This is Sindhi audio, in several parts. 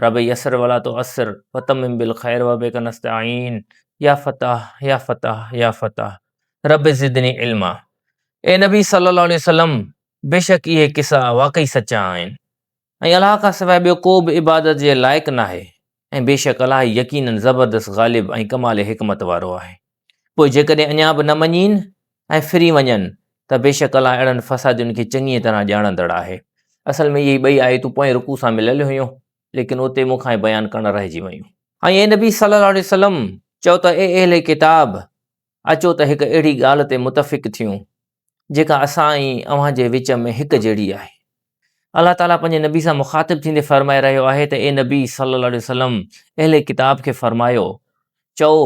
رب يسر ولا تعسر وتمم بالخير وبک نستعين يا فتاح يا فتاح يا فتاح رب زدني علما اي نبي صلي الله عليه وسلم بيشڪ اهي قصا واقعي سچا آهن ۽ الله کان سواء ٻيو ڪو به عبادت جي لائق ناهي ۽ بيشڪ الله يقينن زبردست غالب ۽ ڪمال حڪمت وارو آهي. پوء جيڪڏهن اڃا به نه مڃين ۽ ڦري وڃن ته بيشڪ الله اهڙن فسادين کي چڱيء طرح ڄاڻندڙ آهي. اصل ۾ اهي ٻئي آيتون پوئين رڪوع سان مليل هيون، ليڪن اتي مون کان اهي بيان ڪرڻ رهجي ويون. ۽ اي نبي صلّي اللّٰه عليه وسلّم! چؤ ته اي اهل ڪتاب! اچو ته هڪ اهڙي ڳالهه تي متفق ٿيون، جيڪا اسان ۽ اوهان جي وچ ۾ هڪ جهڙي آهي. الله تعاليٰ پنهنجي نبي سان مخاطب ٿيندي فرمائي رهيو آهي ته اي نبي صلّي الله عليه وسلّم اهل ڪتاب کي فرمايو، چئو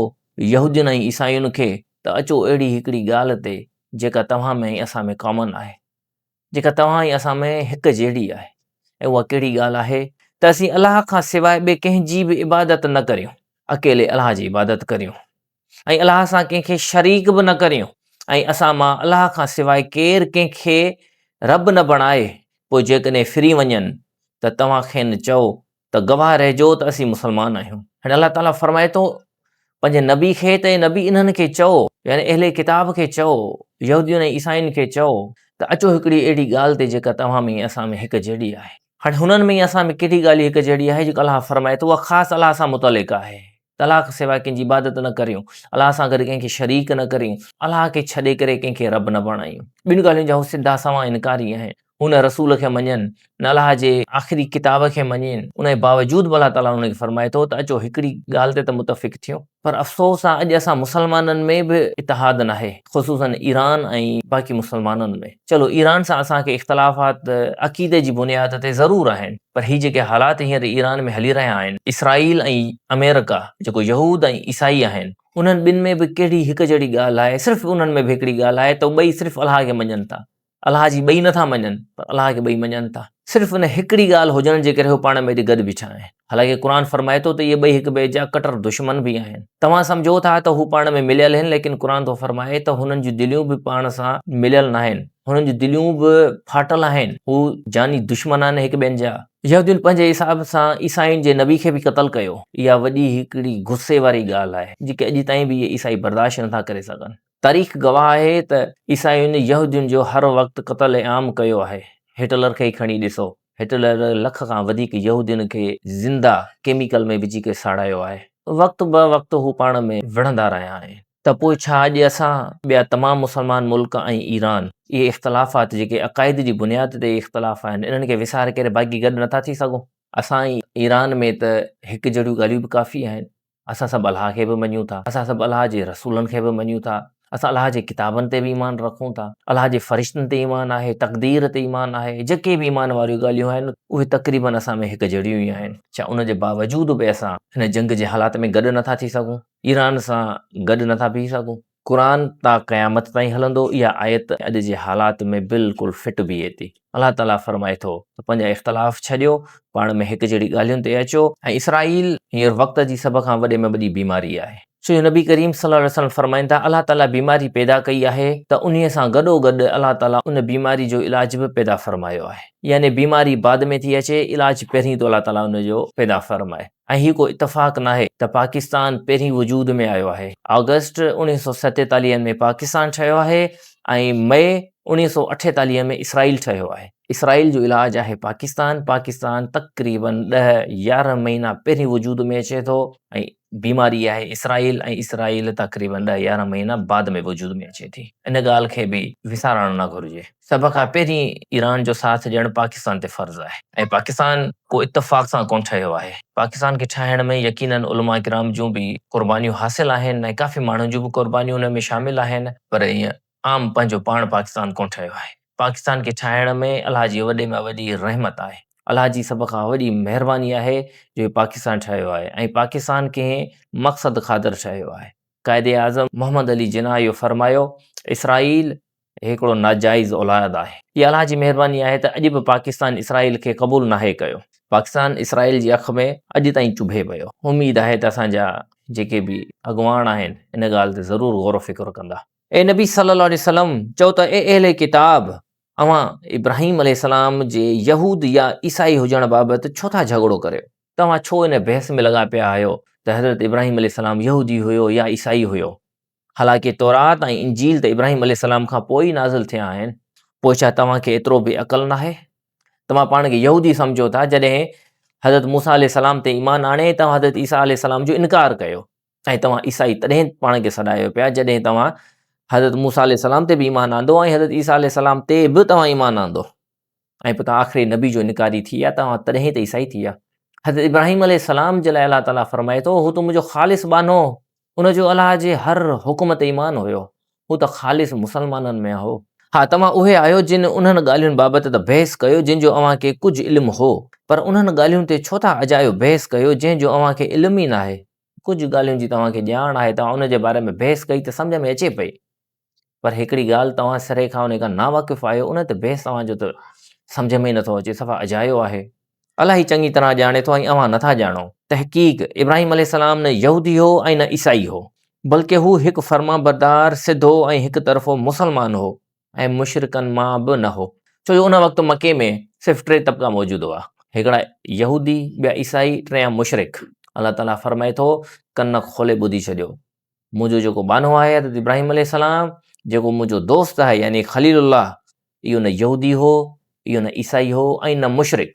يهودين ۽ عيسائين کي ته اچو اهڙي هڪڙي ڳالهه تي جيڪا توهان ۾ ۽ اسان ۾ ڪامن آهي، جيڪا توهان ۽ اسان ۾ هڪ جهڙي آهي ۽ اها ڪهڙي ڳالهه آهي؟ ته اسين الله کان سواء ٻئي ڪنهن جي به عبادت نه ڪريون، اڪيلي الله جي عبادت ڪريون. ۽ الله سان ڪنهن کي شريڪ به نه ڪريون ۽ اسان مان الله کان سواء ڪير ڪنهن کي رب نه بڻائي، پوء جيڪڏهن ڦري وڃن ته توهان کين چئو ته گواهه رهجو ته اسين مسلمان آهيون. هن الله تعاليٰ فرمائي ٿو پنهنجي نبي کي ته اي نبي انهن کي چئو، يعني اهل ڪتاب کي چئو، يهودين ۽ عيسائين کي چئو ته اچو هڪڙي اهڙي ڳالهه تي جيڪا توهان ۾ ۽ اسان ۾ هڪ جهڙي آهي. هاڻي هنن ۾ ۽ اسان ۾ ڪهڙي ڳالهه هڪ جهڙي آهي جيڪو الله فرمائي ٿو اها خاص الله سان متعلق آهي الله کان سواء ڪنهن جي عبادت نه ڪريون، الله سان گڏ ڪنهن کي شريڪ نه ڪريون، الله کي ڇڏي ڪري ڪنهن کي رب نه بڻايون، ٻن ڳالهين جا هو سڌا سنئون انڪاري آهن، هو نه رسول کي مڃين، نه الله جي آخري ڪتاب کي مڃين، ان جي باوجود به الله تعاليٰ انهن کي فرمائي ٿو ته اچو هڪڙي ڳالهه تي ته متفق ٿيون، پر افسوس آ اڄ اسان مسلمانن ۾ به اتحاد ناهي، خصوصاً ايران ۽ باقي مسلمانن ۾. چلو ايران سان اسان کي اختلافات عقيدي جي بنياد تي ضرور آهن پر هي جيڪي حالات هينئر ايران ۾ هلي رهيا آهن اسرائيل ۽ آمريڪا جيڪو يهود ۽ عيسائي آهن انهن ٻن ۾ به ڪهڙي هڪ جهڙي ڳالهه آهي صرف انهن ۾ به هڪڙي ڳالهه آهي ته ٻئي صرف الله کي مڃن ٿا الله جي ٻئي نٿا مڃن پر الله کي ٻئي مڃن ٿا. صرف ان هڪڙي ڳالهه هجڻ جي ڪري هو پاڻ ۾ ايڏي گڏ بيٺا آهن. حالانڪه قرآن فرمائي ٿو ته اهي ٻئي هڪ ٻئي جا ڪٽر دشمن به آهن. توهان سمجهو ٿا ته هو پاڻ ۾ مليل هن ليڪن قرآن ٿو فرمائي ته هنن جون دليون به پاڻ سان مليل ناهن. هنن جون دليون به ڦاٽل آهن. هو جاني دشمن آهن هڪ ٻين جا. يهودين پنهنجي حساب سان عيسائين جي نبي کي به قتل ڪيو. اها وڏي هڪڙي غصي واري ڳالهه آهي جيڪي اڄ تائين به اهي عيسائي برداشت نٿا ڪري سگهن. تاريخ گواهه آهي ته عيسائين يهودين جو هر وقت قتل عام ڪيو آهي. هٽلر کي ئي کڻي ڏسو. هٽلر لک کان وڌيڪ يهودين کي زنده ڪيميڪل ۾ وجهي ڪري ساڙايو آهي. وقت به وقت هو پاڻ ۾ وڙهندا رهيا آهن. ته پوء ڇا اڄ اسان ٻيا تمام مسلمان ملڪ ۽ ايران اهي اختلافات جيڪي عقائد جي بنياد تي اختلاف آهن انهن کي وساري ڪري باقي گڏ نٿا ٿي سگهون؟ اسان ۽ ايران ۾ ته هڪ جهڙيون ڳالهيون به ڪافي آهن. اسان سڀ الله کي به مڃون ٿا، اسان سڀ الله جي رسولن کي به مڃون ٿا، اسان الله جي ڪتابن تي به ايمان رکون ٿا، الله جي فرشتن تي ايمان آهي، تقدير تي ايمان آهي، جيڪي به ايمان واريون ڳالهيون آهن اهي تقريبن اسان ۾ هڪ جهڙيون ئي آهن، ڇا ان جي باوجود به اسان هن جنگ جي حالات ۾ گڏ نٿا ٿي سگهون، ايران سان گڏ نٿا بيهي سگهون؟ قرآن تا قيامت تائين هلندو اها آيت اڄ جي حالات ۾ بلڪل فٽ بيهي ٿي الله تعالي فرمائي ٿو ته پنهنجا اختلاف ڇڏيو پاڻ ۾ هڪ جهڙي ڳالهين تي اچو ۽ اسرائيل هينئر وقت جي سڀ کان وڏي ۾ وڏي بيماري آهي سو نبي ڪريم صلي الله عليه وسلم فرمائن ٿا الله تعالي بيماري پيدا ڪئي آهي ته انهي سان گڏو گڏ الله تعالي ان بيماري جو علاج به پيدا فرمايو آهي يعني بيماري بعد ۾ ٿي اچي علاج پهرين ٿو الله تعالي ان جو پيدا فرمائي. ۽ هي ڪو اتفاق ناهي ته پاڪستان پهرين وجود ۾ آيو آهي. آگسٽ اوڻيهه سؤ ستيتاليهه ۾ پاڪستان ٺهيو آهي ۽ مئي اوڻيهه سؤ اٺيتاليهه ۾ اسرائيل ٺهيو آهي. اسرائيل جو علاج آهي پاڪستان. پاڪستان تقريباً ڏهه يارهن مهينا پهرين وجود ۾ اچي ٿو ۽ بيماري آهي اسرائيل ۽ اسرائيل تقريباً ڏهه يارهن مهينا بعد ۾ وجود ۾ اچي ٿي. ان ڳالهه کي به وسارڻ نه گهرجي. سڀ کان پهرين ايران جو ساٿ ڏيڻ پاڪستان تي فرض آهي ۽ پاڪستان ڪو اتفاق سان ڪونه ٺهيو آهي. پاڪستان کي ٺاهڻ ۾ يقيناً علماء ڪرام جون به قربانيون حاصل آهن ۽ ڪافي ماڻهن جون به قربانيون ان ۾ شامل آهن پر ائين عام پنهنجو پاڻ پاڪستان ڪونه ٺهيو آهي. پاڪستان کي ٺاهڻ ۾ الله جي وڏي ۾ وڏي رحمت آهي. الله جي سڀ کان وڏي مهرباني آهي جو هي پاڪستان ٺهيو آهي ۽ پاڪستان ڪنهن مقصد خاطر ٺهيو آهي. قائد اعظم محمد علي جناح اهو فرمايو اسرائيل هي هڪڙو ناجائز اولاياد آهي. هي الله جي مهرباني آهي ته اڄ به پاڪستان اسرائيل کي قبول ناهي ڪيو. پاڪستان اسرائيل جي اک ۾ اڄ تائين چڀي پيو. اميد آهي ته اسان جا جيڪي به اڳواڻ آهن ان ڳالهه تي ضرور غور و فڪر ڪندا. اي نبي صلّي اللّٰه عليه وسلّم چئو ته اي اهل ڪتاب! اوهان ابراهيم عليه السّلام جي يهود يا عيسائي هجڻ بابت ڇو ٿا جهڳڙو ڪريو؟ توهان ڇو ان بحث ۾ لڳا پيا آهيو ته حضرت ابراهيم عليه السّلام يهودي هيو يا عيسائي هيو؟ حالانڪه تورات ۽ انجيل ته ابراهيم عليه السلام کان پوء ئي نازل ٿيا آهن پوء ڇا توهان کي ايترو به عقل ناهي توهان پاڻ کي يهودي سمجهو ٿا جڏهن حضرت موسا عليه السلام تي ايمان آڻي توهان حضرت عيسيٰ عليه السلام جو انڪار ڪيو ۽ توهان عيسائي تڏهن پاڻ کي سڏايو پيا جڏهن توهان حضرت موسا عليه السلام تي به ايمان آندو ۽ حضرت عيسيٰ عليه السلام تي به توهان ايمان آندو ۽ پوء توهان آخري نبي جو انڪاري ٿي ويا، توهان تڏهن ته عيسائي ٿي ويا. حضرت ابراهيم عليه السلام جي لاء الله تعالي فرمائي ٿو، هو ته منهنجو خالص ٻانهو هو، ان جو الله جي هر حڪم تي ايمان هيو، هو ته خالص مسلمانن مان هو. ها توهان اهي آهيو جن انهن ڳالهين بابت ته بحث ڪيو جن جو اوهان کي ڪجهه علم هو، پر انهن ڳالهين تي ڇو ٿا اجايو بحث ڪيو جنهن جو اوهان کي علم ئي ناهي، ڪجهه ڳالهين جي توهان کي ڄاڻ آهي توهان ان جي باري ۾ بحث ڪئي ته سمجهه ۾ اچي پئي. پر هڪڙي ڳالهه توهان سري کان ان کان ناواقف آهيو ان تي بحث توهان جو ته سمجھ ۾ ئي نٿو اچي صفا اجايو آهي الاهي چڱي طرح ڄاڻي ٿو ۽ اوهان نٿا ڄاڻو تحقيق ابراهيم عليه السلام نه يهودي هو ۽ نه عيسائي هو بلڪه هو هڪ فرمانبردار سڌو ۽ هڪ طرفو مسلمان هو ۽ مشرڪن مان به نه هو ڇو جو ان وقت مڪي ۾ صرف ٽي طبقا موجود هئا هڪڙا يهودي ٻيا عيسائي ٽيان مشرڪ الله تعالي فرمائي ٿو ڪن کولي ٻڌي ڇڏيو منهنجو جيڪو ٻانهو آهي حضرت ابراهيم عليه السلام جيڪو منهنجو دوست آهي يعني خليل الله اهو نه يهودي هو اهو نه عيسائي هو ۽ نه مشرق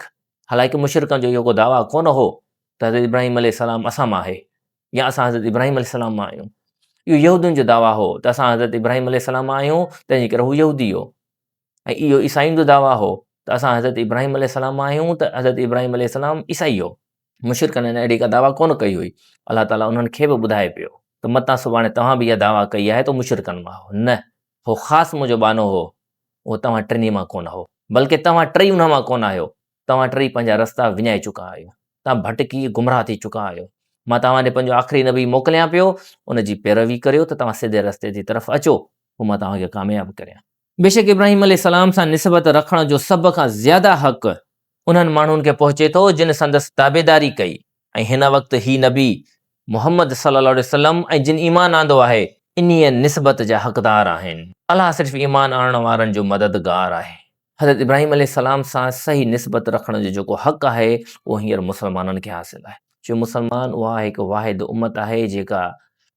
حالانڪه مشرقن جو اهو دعويٰ ڪونه هو ته حضرت ابراهيم عليه السلام اسان مان آهي يا اسان حضرت ابراهيم عليه السلام مان آهيون اهو يهودين جو دعويٰ هو ته اسان حضرت ابراهيم عليه السلام مان آهيون تنهنجي ڪري هو يهودي هو ۽ اهو عيسائين جو دعويٰ هو ته اسان حضرت ابراهيم عليه السلام مان آهيون ته حضرت ابراهيم عليه السلام عيسائي هو. مشرڪن هن اهڙي ڪا دعويٰ ڪونه ڪئي هئي. الله تعاليٰ انهن کي به ٻڌائي پيو ته متان سڀاڻي توهان به اها دعويٰ ڪئي آهي ته هو مشرڪن مان هو. نه، هو خاص منهنجو ٻانهو هو. اهو توهان ٽنهي مان ڪونه هو. بلڪه توهان ٽئي انهن مان ڪونه آهيو. توهان ٽئي پنهنجا رستا وڃائي چڪا آهيو. توهان ڀٽڪي گمراهه ٿي چڪا آهيو. مان توهان ڏي پنهنجو آخري نبي موڪليان پيو، ان جي پيروي ڪريو ته توهان سڌي رستي جي طرف اچو، پوء مان توهان کي ڪامياب ڪريان. بيشڪ ابراهيم عليه السلام سان نسبت رکڻ جو سڀ کان زياده حق انهن ماڻهن کي پهچي ٿو جن سندس تابعداري ڪئي ۽ هن وقت هي نبي محمد صلي الله عليه وسلم ۽ جن ايمان آندو آهي انهيء نسبت جا حقدار آهن. الله صرف ايمان آڻڻ وارن جو مددگار آهي. حضرت ابراهيم عليه السلام سان صحيح نسبت رکڻ جو جيڪو حق آهي اهو هينئر مسلمانن کي حاصل آهي. جو مسلمان اها هڪ واحد امت آهي جيڪا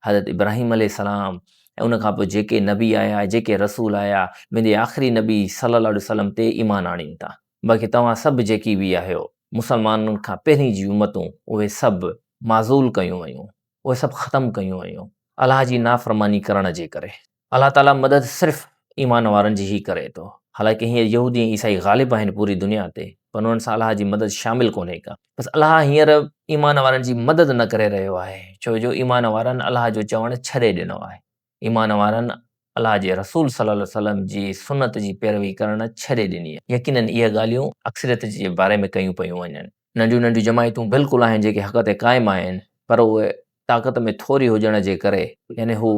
حضرت ابراهيم عليه السلام ۽ ان کان پوء جيڪي نبي آيا، جيڪي رسول آيا، ويندي آخري نبي صلّي الله عليه وسلّم تي ايمان آڻين ٿا. باقي توهان سڀ جيڪي به آهيو، مسلمانن کان پهرين جي امتون، اهي سڀ معزول ڪيون ويون، اهي سڀ ختم ڪيون ويون، الله جي نافرماني ڪرڻ جي ڪري. الله تعاليٰ مدد صرف ايمان وارن جي ئي ڪري ٿو. حالانڪه هينئر يهودي ۽ عيسائي غالب آهن پوري دنيا تي پر انهن سان الله جي مدد شامل ڪونهي ڪا. بس الله هينئر ايمان وارن جي مدد نه ڪري رهيو آهي ڇو جو ايمان وارن الله جو چوڻ ڇڏي ڏنو آهي. ايمان وارن الله جي رسول صلّي عليه وسلّم جي سنّت جي پيروي ڪرڻ ڇڏي ڏني آهي. يقيناً اهي ڳالهيون اڪثريت جي باري ۾ ڪيون پيون وڃن. ننڍيون ننڍيون جماعتون بلڪل آهن جيڪي حق تي قائم آهن پر اهي طاقت ۾ ٿوري هجڻ جي ڪري يعني هو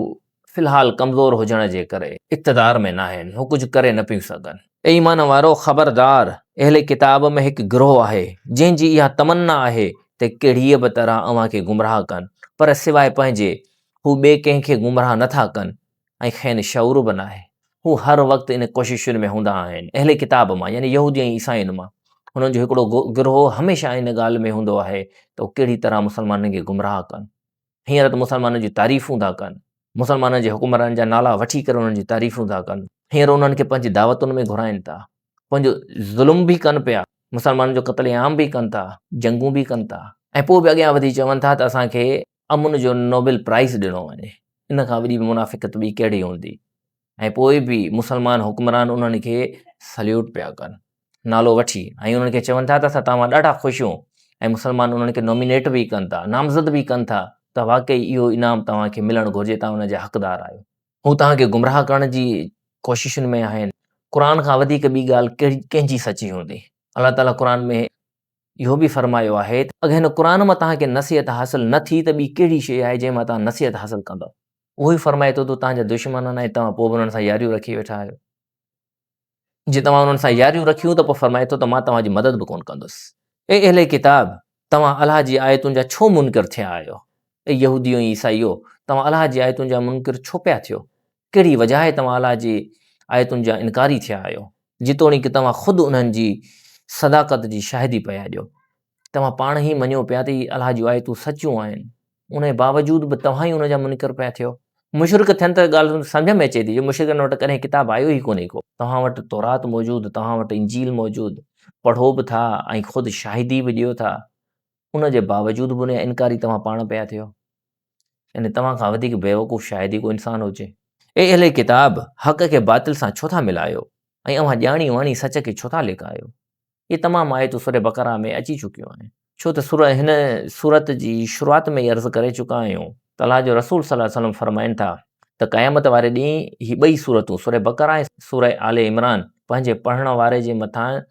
في الحال ڪمزور هجڻ جي ڪري اقتدار ۾ ناهن هو ڪجهه ڪري نه پيون سگهن. اي ايمان وارؤ خبردار! اهل ڪتاب ۾ هڪ گروهه آهي جنهن جي اها تمنا آهي ته ڪهڙيء به طرح اوهان کي گمراهه ڪن پر سواء پنهنجي هو ٻئي ڪنهن کي گمراهه نه ٿا ڪن ۽ کين شعور به ناهي. هو هر وقت ان ڪوششن ۾ هوندا آهن. اهل ڪتاب مان يعني يهودي ۽ عيسائين مان هنن جو هڪڙو گروهه هميشه ان ڳالهه ۾ هوندو آهي ته هو ڪهڙي طرح مسلمانن کي گمراهه ڪن. هينئر ته مسلمانن جون تعريفون ٿا ڪن. مسلمانن جي حڪمرانن جا نالا وٺي ڪري انهن جون تعريفون ٿا ڪن. هينئر انهن کي پنهنجي دعوتن ۾ گهرائين ٿا. پنهنجو ظلم به ڪن پيا. مسلمانن جو قتل عام به ڪن ٿا. جنگون به ڪن ٿا. ۽ پوء به اڳيان وڌي چون ٿا ته اسان کي امن جو نوبل پرائز ڏنو وڃي، ان کان وڏي منافقت ٻي ڪهڙي هوندي؟ ۽ پوء به مسلمان حڪمران انهن کي سليوٽ پيا ڪن نالو وٺي ۽ انهن کي چون ٿا ته اسان توهان ڏاڍا خوش آهيون ۽ مسلمان انهن کي نامينيٽ به ڪن ٿا نامزد به ڪن ٿا ته واقعي اهو انعام توهان کي ملڻ گهرجي توهان ان جا حقدار آهيو هو توهان کي گمراهه ڪرڻ جي ڪوششن ۾ آهن قرآن کان وڌيڪ ٻي ڳالهه ڪنهن جي سچي هوندي الله تعالي قرآن ۾ اهو به فرمايو آهي ته اگر هن قرآن مان توهان کي نصيحت حاصل نه ٿي ته ٻي ڪهڙي شيء آهي جنهن مان توهان نصيحت حاصل ڪندؤ؟ اهو ئي فرمائي ٿو ته توهان جا دشمن آهن ۽ توهان پوء به انهن سان ياريون رکي ويٺا آهيو. جي توهان انهن سان ياريون رکيون ته پوء فرمائي ٿو ته مان توهان جي مدد به ڪونه ڪندس. اي اهل ڪتاب! توهان الله جي آيتن جا ڇو منڪر ٿيا آهيو؟ اي يهوديو ۽ عيسائيو! توهان الله جي آيتن جا منڪر ڇو پيا ٿيو؟ ڪهڙي وجاهه توهان الله جي آيتن جا انڪاري ٿيا آهيو، جيتوڻيڪ توهان خود انهن جي صداقت جي شاهدي پيا ڏيو. توهان پاڻ هي مڃيو پيا ته هي الله جون آيتون سچيون آهن، انهيء باوجود به توهان ئي انهن جا منڪر پيا ٿيو. مشرڪ ٿين ته ڳالهه سمجهه ۾ اچي ٿي جو مشرڪن وٽ ڪڏهن ڪتاب آيو ئي ڪونهي ڪو. توهان وٽ تورات موجود، توهان وٽ انجيل موجود، پڙهو به ٿا ۽ خود شاهدي به ڏيو ٿا، ان جي باوجود به انهيء جا انڪاري توهان پاڻ پيا ٿيو. يعني توهان کان وڌيڪ بيوقوف شايد ئي ڪو انسان هجي. اي اهل ڪتاب! حق کي باطل سان ڇو ٿا ملايو ۽ اوهان ڄاڻي واڻي سچ کي ڇو ٿا لڪايو؟ اهي تمام آيتون سوره بقره ۾ اچي چڪيون آهن. ڇو ته سورة هن سورت جي شروعات ۾ ئي عرض ڪري چڪا آهيون ته الله جو رسول صلي الله عليه وسلم فرمائن ٿا ته قيامت واري ڏينهن هي ٻئي سورتون سورة بقره ۽ سورة آل عمران پنهنجي پڙهڻ واري جي مٿان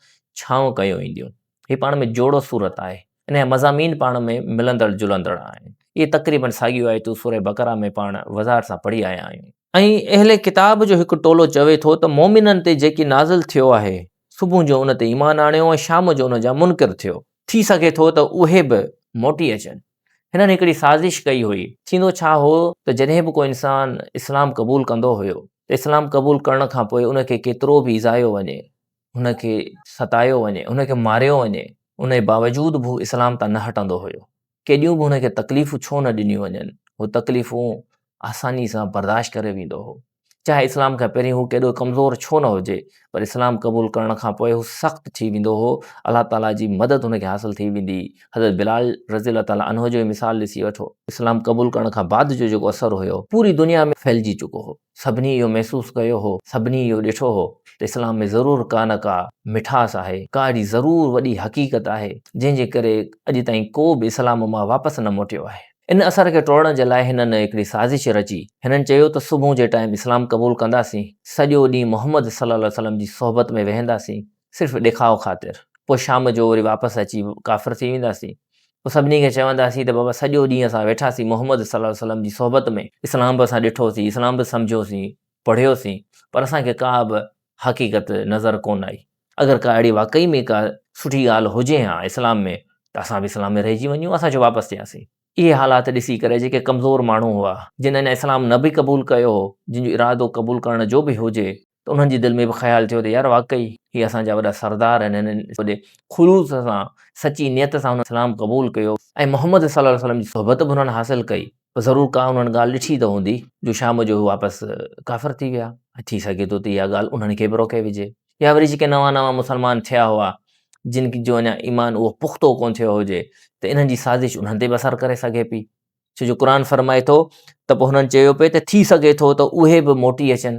ڇانو ڪيو وينديون. هي پاڻ ۾ جوڙو سورت آهي. ان جا مضامين پاڻ ۾ ملندڙ جلندڙ آهن. اهي تقريباً ساڳيون آيتون سورة بقرة ۾ پاڻ وضاحت سان پڙهي آيا آهيون. ۽ اهل ڪتاب جو هڪ ٽولو چوي ٿو ته مؤمنن تي جيڪي نازل ٿيو آهي، صبح جو ان تي ايمان آڻيو ۽ شام جو ان جا منڪر ٿيو. ٿي سگهي ٿو ته اهي به موٽي اچن. هنن هڪڙي سازش ڪئي هئي. ٿيندو ڇا هو ته جڏهن به ڪو انسان اسلام قبول ڪندو هيو ته اسلام قبول ڪرڻ کان پوء ان کي ڪيترو به ايذايو وڃي هن کي ستايو وڃي، هن کي ماريو وڃي، ان جي باوجود به هو اسلام تان نه هٽندو هيو. ڪيڏيون به هن کي تڪليفون ڇو نه ڏنيون وڃن، هو تڪليفون آساني سان برداشت ڪري ويندو هو. چاهي اسلام کان پهرين هو ڪيڏو ڪمزور ڇو نه هجي، پر اسلام قبول ڪرڻ کان پوء هو سخت ٿي ويندو هو، الله تعاليٰ جي مدد هن کي حاصل ٿي ويندي هئي. حضرت بلال رضي الله تعاليٰ عنه جو ئي مثال ڏسي وٺو. اسلام قبول ڪرڻ کان بعد جو جيڪو اثر هيو، پوري دنيا ۾ ڦهلجي چڪو هو. سڀني اهو محسوس ڪيو هو، سڀني اهو ڏٺو هو ته اسلام ۾ ضرور ڪا نه ڪا مٺاس آهي، ڪا اهڙي ضرور وڏي حقيقت آهي، جنهن جي ڪري اڄ تائين ڪو به اسلام مان واپس نه موٽيو آهي. ان اثر کي ٽوڙڻ جي لاء هنن هڪڙي سازش رچي. هنن چيو ته صبح جي ٽائيم اسلام قبول ڪنداسين، سڄو ڏينهن محمد صلي الله عليه وسلم جي صحبت ۾ ويهنداسين، صرف ڏيکاء خاطر، پوء شام جو وري واپس اچي ڪافر ٿي وينداسين، پوء سڀني کي چونداسين ته بابا سڄو ڏينهن اسان ويٺاسين محمد صلي الله عليه وسلم جي صحبت ۾، اسلام به اسان ڏٺوسين، اسلام به سمجهيوسين، پڙهيوسين، پر اسان کي ڪا به حقيقت نظر ڪونه آئي، اگر ڪا اهڙي واقعي ۾ ڪا سٺي ڳالهه هجي ها اسلام ۾ ته اسان به اسلام ۾ رهجي وڃون ها، اسان ڇو واپس ٿياسين. اهي حالات ڏسي ڪري جيڪي ڪمزور ماڻهو هئا، جن اڃا اسلام نه به قبول ڪيو هو، جن جو ارادو قبول ڪرڻ جو به هجي، ته انهن جي دل ۾ به خيال ٿيو ته يار واقعي هي اسان جا وڏا سردار آهن هنن وڏي خلوص سان سچي نيت سان انهن اسلام قبول ڪيو ۽ محمد صلي الله عليه وسلم جي صحبت به انهن حاصل ڪئي ته ضرور ڪا انهن ڳالهه ڏٺي ته هوندي جو شام جو هي واپس ڪافر ٿي ويا ۽ ٿي سگهي ٿو ته اها ڳالهه انهن کي به روڪي وجهي يا وري جيڪي نوان نوان مسلمان ٿيا هئا جن جو اڃا ايمان اهو پختو ڪونه ٿيو هجي ته انهن جي سازش انهن تي به اثر ڪري سگهي پئي ڇو جو قرآن فرمائي ٿو ته پوء هنن چيو پئي ته ٿي سگهي ٿو ته اهي به موٽي اچن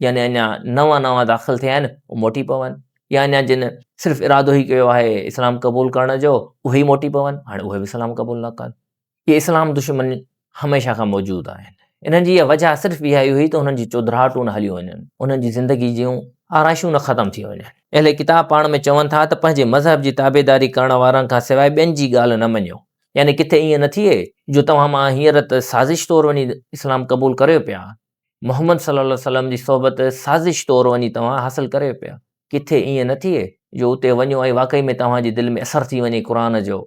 يعني اڃا نوان نوان داخل ٿيا آهن اهي موٽي پون يا اڃا جن صرف ارادو ئي ڪيو آهي اسلام قبول ڪرڻ جو اهي ئي موٽي پون هاڻي اهي به اسلام قبول نه ڪن اهي اسلام دشمن هميشه کان موجود آهن انهن جي اها وجه صرف اها ئي هئي ته انهن جي چودراهٽون نه هليون وڃن انهن جي زندگي جون آرائشون نه ختم ٿي وڃن اهل ڪتاب پاڻ ۾ چون ٿا ته پنهنجي مذهب جي تابعداري ڪرڻ وارن کان سواء ٻين جي ڳالهه نه مڃيو يعني ڪٿي ائين نه ٿئي جو توهان مان هينئر ته سازش طور وڃي اسلام قبول ڪريو پيا، محمد صلّي الله عليه وسلّم جي صحبت سازش طور وڃي توهان حاصل ڪريو پيا، ڪٿي ائين نه ٿئي جو اتي وڃو ۽ واقعي ۾ توهان جي دل ۾ اثر ٿي وڃي قرآن جو،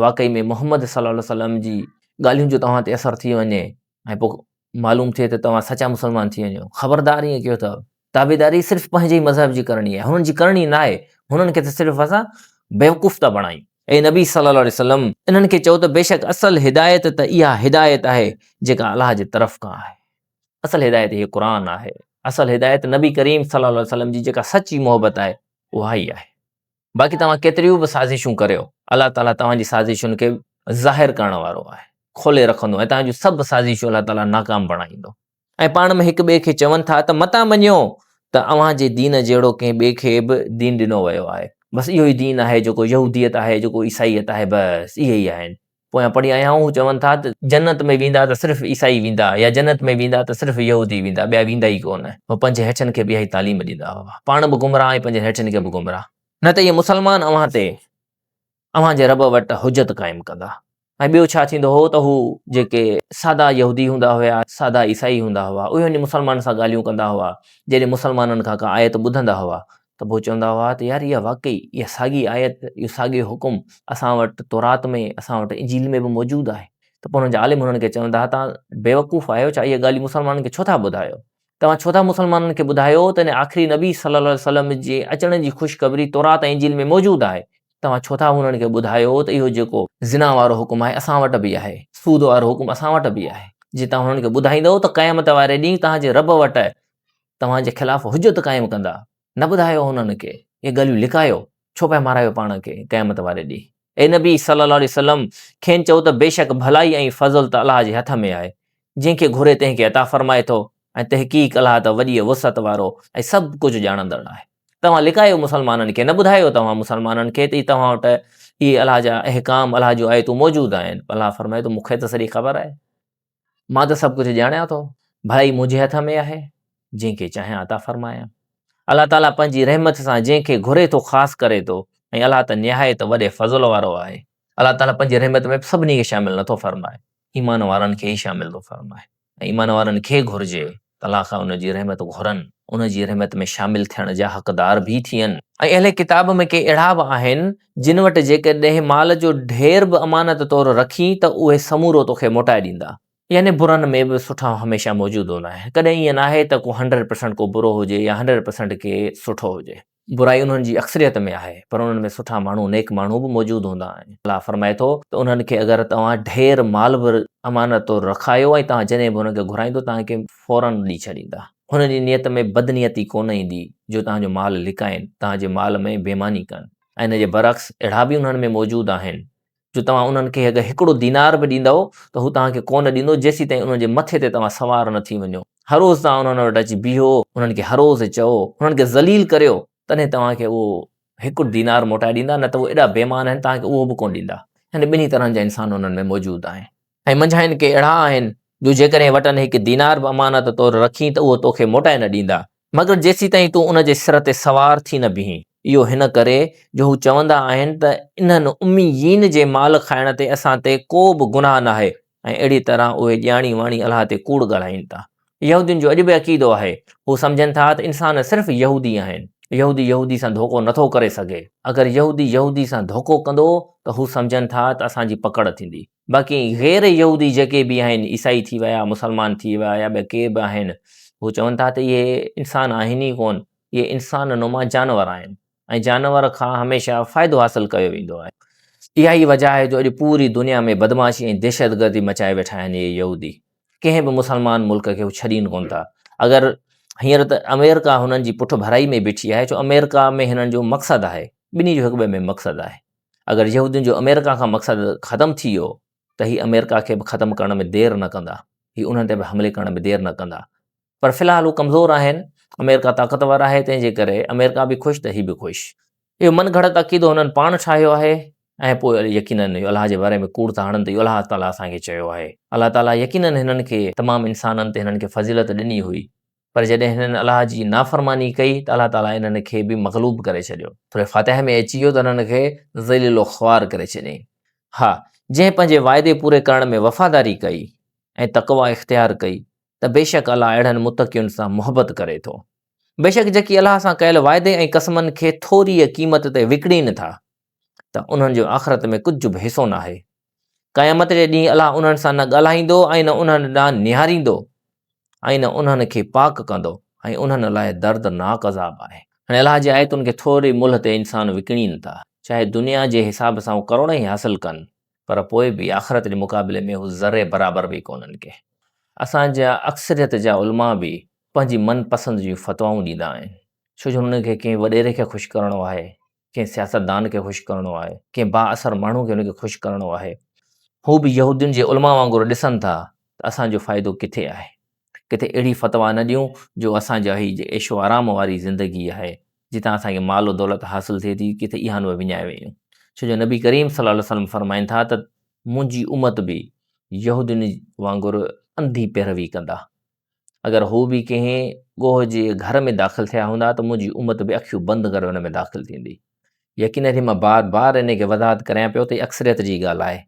واقعي ۾ محمد صلّي الله عليه وسلّم جي ڳالهين جو توهان تي اثر ٿي وڃي، ۽ پوء معلوم ٿئي ته توهان سچا مسلمان ٿي وڃو خبردار ائين ڪيو اٿو تابعداري صرف پنهنجي مذهب جي ڪرڻي آهي هنن جي ڪرڻي نه آهي هنن کي ته صرف اسان بيوقوف ٿا بڻايون اي نبي صلي الله عليه وسلم انهن کي چئو ته بيشڪ اصل هدايت ته اها هدايت آهي جيڪا الله جي طرف کان آهي اصل هدايت هي قرآن آهي اصل هدايت نبي ڪريم صلي الله عليه وسلم جي جيڪا سچي محبت آهي اها ئي آهي باقي توهان ڪيتريون به سازشون ڪريو، الله تعاليٰ توهان جي سازشن کي ظاهر ڪرڻ وارو آهي، کولي رکندو ۽ توهان جون سڀ سازشون الله تعاليٰ ناڪام بڻائيندو. ۽ پاڻ ۾ هڪ ٻئي کي چون ٿا ته متان مڃيو ته اوهان جي دين جهڙو ڪنهن ٻئي کي به دين ڏنو ويو آهي. بس اهو ئي دين آهي جيڪو يهوديت آهي، جيڪو عيسائيت آهي، بس اهي ئي آهن. پويان پڙهي آيا آهيون، هو چون ٿا ته جنت ۾ ويندا ته صرف عيسائي ويندا يا جنت ۾ ويندا ته صرف يهودي ويندا ٻيا ويندا ئي ڪونه. هو پنهنجي هيٺين کي به اها ئي تعليم ڏيندا هئا. پاڻ به گمراهه ۽ پنهنجن هيٺين کي به گمراهه. نه ته اهي مسلمان اوهان تي اوهان جي رب وٽ حجت قائم ڪندا. ۽ ٻيو ڇا ٿيندو هو ته هو جيڪي سادا يهودي هوندا هيا، سادا عيسائي هوندا هئا، اهي وڃي مسلمانن سان ڳالهيون ڪندا هئا، جڏهن مسلمانن کان ڪا آيت ٻڌندا هئا ته پوء چوندا هئا ته يار اها واقعي اها ساڳي آيت اهو ساڳيو حڪم اسان وٽ تورات ۾ اسان وٽ انجيل ۾ به موجود آهي ته پوء هنن جا عالم هنن کي چوندا هئا تان بيوقوف آهيو ڇا اهي ڳالهيون مسلمانن کي ڇو ٿا ٻڌايو توهان ڇو ٿا مسلمانن کي ٻڌايو ته ان آخري نبي صلي الله عليه وسلم جي اچڻ جي خوشخبري تورات ۽ انجيل ۾ موجود آهي توهان ڇو ٿا هنن کي ٻڌايو ته اهو جيڪو زنا وارو حڪم آهي اسان وٽ به آهي سود وارو حڪم اسان وٽ به آهي جي توهان هنن کي ٻڌائيندؤ ته قيامت واري ڏينهن توهان جي رب وٽ توهان جي خلاف حجت قائم ڪندا، نه ٻڌايو انهن کي، اهي ڳالهيون لڪايو، ڇو پيا مارايو پاڻ کي قيامت واري ڏينهن. اي نبي صلّي اللّٰه عليه وسلّم! کين چئو ته بيشڪ ڀلائي ۽ فضل ته الله جي هٿ ۾ آهي، جنهن کي گهري تنهن کي عطا فرمائي ٿو ۽ تحقيق الله ته وڏيء وسعت وارو ۽ سڀ ڪجهه ڄاڻندڙ آهي. توهان لڪايو مسلمانن کي، نه ٻڌايو توهان مسلمانن کي ته توهان وٽ اهي الله جا احڪام، الله جون آيتون موجود آهن، الله فرمائي ٿو مون کي ته سڄي خبر آهي. مان ته سڀ ڪجهه ڄاڻيان ٿو، ڀلائي منهنجي هٿ ۾ آهي، جنهن کي چاهيان عطا فرمايان. الله تعاليٰ پنهنجي رحمت سان جنهن کي گهري ٿو خاص ڪري ٿو ۽ الله ته نهايت وڏي فضل وارو آهي. الله تعاليٰ پنهنجي رحمت ۾ سڀني کي شامل نه ٿو فرمائي، ايمان وارن کي ئي شامل ٿو فرمائي ۽ ايمان وارن کي گهرجي الله کان ان جي رحمت گهرن، ان جي رحمت ۾ شامل ٿيڻ جا حقدار به ٿين ۽ اهل ڪتاب ۾ ڪي اهڙا به آهن جن وٽ جيڪڏهن مال جو ڍير به امانت طور رکين ته اهي سمورو توکي موٽائي ڏيندا. يعني برن ۾ به سٺا هميشه موجود هوندا آهن، ڪڏهن ائين ناهي ته ڪو هنڊريڊ پرسنٽ ڪو برو هجي يا هنڊريڊ پرسنٽ ڪي سٺو هجي. برائي انهن جي اڪثريت ۾ آهي، پر انهن ۾ سٺا ماڻهو، نيڪ ماڻهو، به موجود هوندا آهن. الله فرمائي ٿو ته انهن کي اگر توهان ڍير مال به امانت طور رکايو ۽ توهان جڏهن به انهن کي گهرائيندو توهان کي فوراً ڏئي ڇڏيندا. هنن جي نيت ۾ بدنيتي ڪونه ايندي جو توهان جو مال لڪائين، توهان جي مال ۾ بيماني ڪن ۽ ان جي برعڪس اهڙا به انهن ۾ موجود آهن جو توهان انهن کي اگر هڪڙو دينار به ڏيندؤ ته هو توهان کي ڪونه ڏيندو جيسيتائين انهن جي مٿي تي توهان سوار نه ٿي وڃو. هروز توهان انهن وٽ اچي بيهو، انهن کي هروز چئو، انهن کي ذليل ڪريو، تڏهن توهان کي اهو هڪڙو دينار موٽائي ڏيندا، نه ته هو ايڏا بي ايمان آهن توهان کي اهو به ڪونه ڏيندا. يعني ٻنهي طرحن جا انسان انهن ۾ موجود آهن. ۽ منجهانئن ڪي اهڙا آهن، جو جيڪڏهن وٽن هڪ دينار به امانت طور رکين ته اهو توکي موٽائي نه ڏيندا، مگر جيسيتائين تون ان جي سر تي سوار ٿي نه بيهين. اهو هن ڪري، جو هو چوندا آهن ته انهن، امّيين، جي مال کائڻ تي اسان تي ڪو به گناهه ناهي ۽ اهڙيء طرح اهي ڄاڻي واڻي الله تي ڪوڙ ڳالهائين ٿا. يهودين جو اڄ به عقيدو آهي. هو سمجهن ٿا ته انسان صرف يهودي آهن. يهودي يهودي سان ڌوڪو نٿو ڪري سگهي. اگر يهودي يهودي سان ڌوڪو ڪندو ته هو سمجهن ٿا ته اسان جي پڪڙ ٿيندي. باقي غير يهودي جيڪي به آهن عيسائي ٿي ويا مسلمان ٿي ويا يا ٻيا ڪي به آهن هو چون ٿا ته اهي انسان آهن ئي ڪون اهي انسان نما جانور آهن ۽ جانور کان هميشه فائدو حاصل ڪيو ويندو آهي اها ئي وجه آهي جو اڄ پوري دنيا ۾ بدمعاشي ۽ دهشتگردي مچائي ويٺا آهن اهي يهودي ڪنهن به مسلمان ملڪ کي هو ڇڏين ڪون ٿا اگر هينئر ته آمريڪا هنن جي پٺڀرائي ۾ بيٺي آهي ڇو آمريڪا ۾ هنن جو مقصد آهي ٻنهي جو هڪ ٻئي ۾ مقصد آهي اگر يهودين جو آمريڪا کان مقصد ختم ٿي ويو ته هي آمريڪا کي به ختم ڪرڻ ۾ دير نه ڪندا، هي انهن تي به حملي ڪرڻ ۾ دير نه ڪندا پر في الحال هو ڪمزور آهن، آمريڪا طاقتور آهي تنهن جي ڪري آمريڪا به خوش ته هي به خوش. اهو من گهڙت عقيدو هنن پاڻ ٺاهيو آهي ۽ پوء يقينن اهي الله جي باري ۾ ڪوڙ ٿا هڻن ته اهو الله تعاليٰ اسان کي چيو آهي. الله تعاليٰ يقينن هنن کي تمام انسانن تي هنن کي فضيلت ڏني هئي پر جڏهن هنن الله جي نافرماني ڪئي ته الله تعالي انهن کي به مغلوب ڪري ڇڏيو. سورة فاتحه ۾ اچي ويو ته انهن کي ذليل و خوار ڪري ڇڏيائين. ها! جنهن پنهنجي وعدي پوري ڪرڻ ۾ وفاداري ڪئي ۽ تقويٰ اختيار ڪئي ته بيشڪ الله اهڙن متقين سان محبت ڪري ٿو. بيشڪ جيڪي الله سان ڪيل وعدي ۽ قسمن کي ٿوريء قيمت تي وڪڻين ٿا ته انهن جو آخرت ۾ ڪجهه به حصو ناهي. قيامت جي ڏينهن الله انهن سان نه ڳالهائيندو ۽ نه انهن ڏانهن نهاريندو ۽ نه انهن کي پاڪ ڪندو ۽ انهن لاء دردناڪ عذاب آهي. هن الله جي آيتن کي ٿوري ملهه تي انسان وڪڻين ٿا، چاهي دنيا جي حساب سان هو ڪروڙ ئي حاصل ڪن، پر پوء به آخرت جي مقابلي ۾ هو ذري برابر به ڪونهن ڪي. اسان جا اڪثريت جا علماء به پنهنجي من پسند جون فتوائون ڏيندا آهن، ڇو جو هنن کي ڪنهن وڏيري کي خوش ڪرڻو آهي ڪنهن سياستدان کي خوش ڪرڻو آهي، ڪنهن بااثر ماڻهو کي ان کي خوش ڪرڻو آهي. هو به يهودين جي علماء وانگر ڏسن ٿا ته اسان جو فائدو ڪٿي آهي. ڪٿي اهڙي فتويٰ نه ڏيون جو اسان جا هي جي عيش و آرام واري زندگي آهي، جتان اسان کي مال و دولت حاصل ٿئي ٿي، ڪٿي اها نوع وڃائي ويون. ڇو جو نبي ڪريم صلي الله عليه وسلم فرمائن ٿا ته منهنجي امت به يهودين وانگر انڌي پيروي ڪندا، اگر هو به ڪنهن ڳوهه جي گهر ۾ داخل ٿيا هوندا ته منهنجي امت به اکيون بند ڪري ان ۾ داخل ٿيندي يقينن هي مان بار بار ان کي وضاحت ڪريان پيو ته هي اڪثريت جي ڳالهه آهي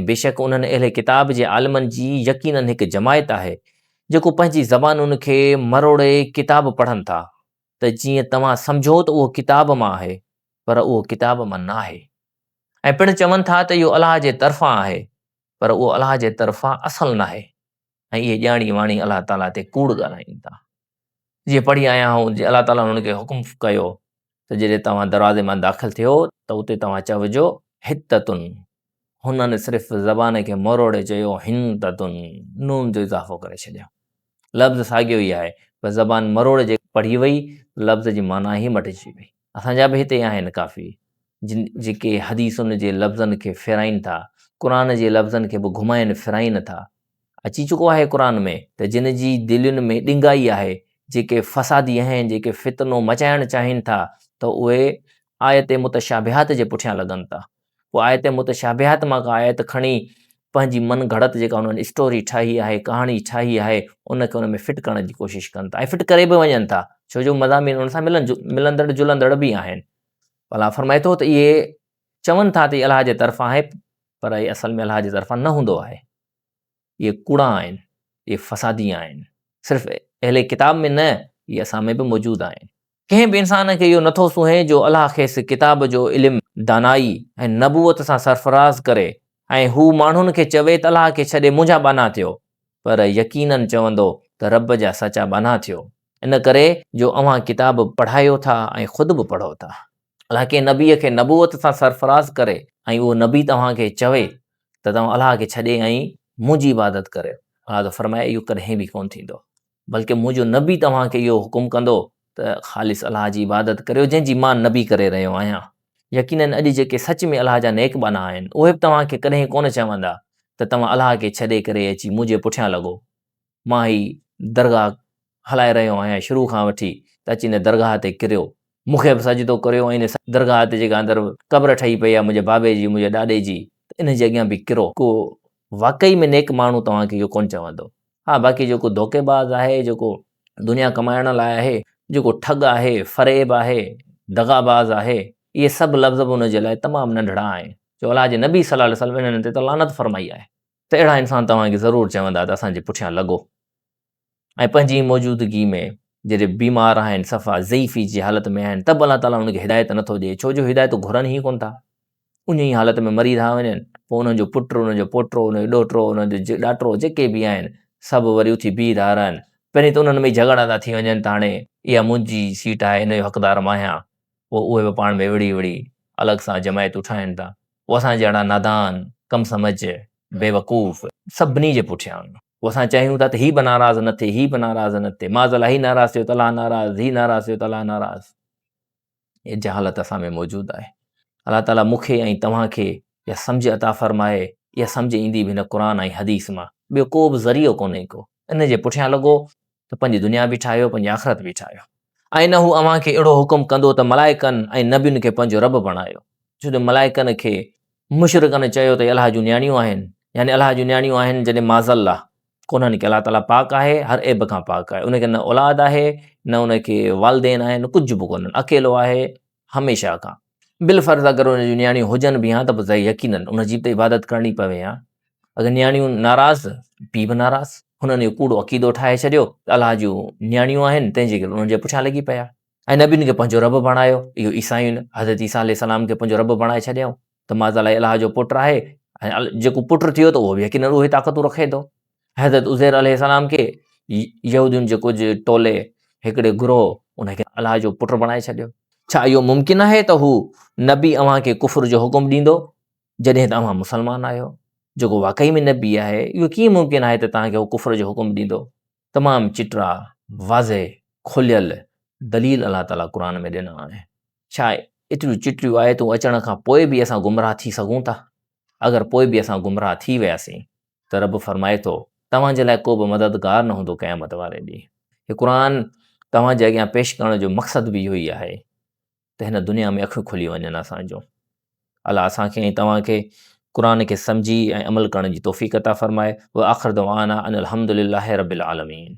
۽ بيشڪ انهن اهل ڪتاب جي عالمن جي يقينن هڪ جماعت آهي جيڪو پنهنجي زبانن کي مروڙي ڪتاب پڙهن ٿا ته جيئن توهان سمجهو ته اهو ڪتاب مان آهي پر اهو ڪتاب مان نه آهي ۽ پڻ چون ٿا ته اهو الله جي طرفان آهي پر اهو الله جي طرفان اصل ناهي ۽ اهي ڄاڻي واڻي الله تعاليٰ تي ڪوڙ ڳالهائين ٿا. جيئن پڙهي آيا آهون جي الله تعاليٰ انهن کي حڪم ڪيو ته جڏهن توهان دروازي مان داخل ٿيو ته اتي توهان چئجو، حطتن. هنن صرف زبان کي مروڙي چيو، حنطتن. نون جو اضافو ڪري ڇڏيو. لفظ ساڳيو ئي آهي پر زبان مروڙي جي پڙهي وئي ته لفظ جي معنيٰ ئي مٽجي وئي. اسان جا به هتي آهن ڪافي جن جيڪي حديثن جي لفظن کي ڦيرائين ٿا، قرآن جي لفظن کي به گهمائين ڦيرائين ٿا. اچي چڪو آهي قرآن ۾ ته جن جي دلين ۾ ڏنگائي آهي، جيڪي فسادي آهن، جيڪي فتنو مچائڻ چاهين ٿا ته اهي آيت متشابهات جي پٺيان لڳن ٿا. پوء آيت متشابهات مان ڪا آيت کڻي پنهنجي من گهڙت جيڪا انهن اسٽوري ٺاهي آهي، ڪهاڻي ٺاهي آهي، ان کي ان ۾ فٽ ڪرڻ جي ڪوشش ڪن ٿا ۽ فٽ ڪري به وڃن ٿا ڇو جو مضامين ان سان ملن ملندڙ جلندڙ به آهن. الله فرمائي ٿو ته اهي چون ٿا ته هي الله جي طرفان آهي پر اهي اصل ۾ الله جي طرفان نه هوندو آهي. اهي ڪوڙا آهن، اهي فسادي آهن. صرف اهل ڪتاب ۾ نه اهي اسان ۾ به موجود آهن. ڪنهن به انسان کي اهو نٿو سونهي جو الله کيس ڪتاب جو علم، دانائي ۽ نبوت سان سرفراز ڪري ۽ هو ماڻهن کي چوي ته الله کي ڇڏي منهنجا ٻانها ٿيو پر يقيناً چوندو ته رب جا سچا ٻانها ٿيو ان ڪري جو اوهان ڪتاب پڙهايو ٿا ۽ خود به پڙهو ٿا. الله ڪنهن نبي کي نبوت سان سرفراز ڪري ۽ اهو نبي توهان کي چوي ته توهان الله کي ڇڏي ۽ منهنجي عبادت ڪريو الله ته فرمائي اهو ڪڏهن به ڪونه ٿيندو بلڪه منهنجو نبي توهان کي اهو حڪم ڪندو ته خالص الله جي عبادت ڪريو جنهن جي مان نبي ڪري رهيو آهيان يقينن اڄ جيڪي سچ ۾ الله جا نيڪ ٻانها آهن اهي به توهان کي ڪڏهن ڪونه چوندا ته توهان الله کي ڇڏي ڪري اچي منهنجي پٺيان لڳو مان هي درگاهه هلائي رهيو آهيان شروع کان وٺي ته اچي ان درگاهه تي ڪريو مونکي به سجدو ڪريو ۽ ان درگاهه تي جيڪا اندر قبر ٺهي پئي آهي منهنجي بابي جي منهنجي ڏاڏي جي ته انهن جي اڳيان به ڪرو ڪو واقعي ۾ نيڪ ماڻهو توهان کي اهو ڪونه چوندو ها باقي جيڪو ڌوڪي باز آهي جيڪو دنيا ڪمائڻ لاء آهي جيڪو ٺڳ آهي فريب آهي دغا باز آهي اهي سڀ لفظ به ان جي لاء تمام ننڍڙا آهن جو الله جي نبي صلي الله عليه وسلم انهن تي ته لعنت فرمائي آهي ته اهڙا انسان توهان کي ضرور چوندا ته اسان جي پٺيان لڳو ۽ پنهنجي موجودگي ۾ جڏهن بيمار آهن صفا ضعيفي جي حالت ۾ آهن ته به الله تعاليٰ انهن کي هدايت نٿو ڏي ڇو جو هدايت گهرن ئي ڪون ٿا ان ئي حالت ۾ مري رهيا وڃن پوء انهن جو پٽ انهن جو پوٽو انهن جو ڏوهٽو انهن جو ڏاٽو جيڪي به آهن سڀ وري اٿي بيهي رهيا رهن پهرين ته انهن ۾ جهڳڙا ٿا ٿي وڃن ته هاڻي اها منهنجي سيٽ آهي ان جو حقدار مان آهيان پوء اهي به پاڻ ۾ وڙهي وڙهي الڳ سان جماعتون ٺاهين ٿا. هو اسان جهڙا نادان، ڪم سمجهه، بيوقوف سڀني جي پٺيان آهن. هو اسان چاهيون ٿا ته هي به ناراض نه ٿئي، هي به ناراض نه ٿئي، معاذ الله هي ناراض ٿيو ته الله ناراض، هي ناراض ٿيو ته الله ناراض. هيء جهالت اسان ۾ موجود آهي. الله تعاليٰ مون کي ۽ توهان کي اها سمجهه عطا فرمائي. اها سمجهه ايندي به هن قرآن ۽ حديث مان. ٻيو ڪو به ذريعو ڪونهي ڪو. ان جي پٺيان لڳو ته پنهنجي دنيا به ٺاهيو پنهنجي آخرت به ٺاهيو ۽ نه هو اوهان کي اهڙو حڪم ڪندو ته ملائڪن ۽ نبين کي پنهنجو رب بڻايو ڇو جو ملائڪن کي مشرڪن چيو ته الله جون نياڻيون آهن يعني الله جون نياڻيون آهن جڏهن معذ الله ڪونهن کي الله تعالیٰ پاڪ آهي هر عيب کان پاڪ آهي ان کي نه اولاد آهي نه ان کي والدين آهن ڪجھ به ڪونهن اڪيلو آهي هميشه کان بالفرض اگر ان جون نياڻيون هجن به ها ته پوء يقيناً ان جي به عبادت ڪرڻي پوي ها اگر نياڻيون ناراض پي به ناراض هنن اهو ڪوڙو عقيدو ٺاهي ڇڏيو ته الاهه جون نياڻيون آهن تنهنجي ڪري انهن جي پٺيان لڳي پيا ۽ نبين کي پنهنجو رب بڻايو اهو عيسائين حضرت عيسيٰ عليه السلام کي پنهنجو رب بڻائي ڇڏيائون ته ماضا الاهه جو پٽ آهي ۽ جيڪو پٽ ٿيو ته اهو به يقيناً اهي طاقتون رکي ٿو حضرت عزير عليه السلام کي يهودين جي ڪجهه ٽولي هڪڙي گروهه ان کي الله جو پٽ بڻائي ڇڏيو ڇا اهو ممڪن آهي ته هو نبي اوهان کي ڪفر جو حڪم ڏيندو جڏهن ته اوهان مسلمان آهيو جيڪو واقعي ۾ نبي آهي اهو ڪيئن ممڪن آهي ته توهان کي هو ڪفر جو حڪم ڏيندو تمام چٽا واضح کليل دليل الله تعاليٰ قرآن ۾ ڏنا آهن ڇا ايتريون چٽيون آيتون اچڻ کان پوء به اسان گمراهه ٿي سگهون ٿا اگر پوء به اسان گمراهه ٿي وياسين ته رب فرمائي ٿو، توهان جي لاء ڪو به مددگار نه هوندو قيامت واري ڏينهن. هي قرآن توهان جي اڳيان پيش ڪرڻ جو مقصد به اهو ئي آهي ته هن دنيا ۾ اکيون کلي وڃن اسان جون. الله اسان کي ۽ توهان کي قرآن کي سمجهي ۽ عمل ڪرڻ جي توفيق عطا فرمائي. وآخر دعوانا ان الحمد لله رب العالمين.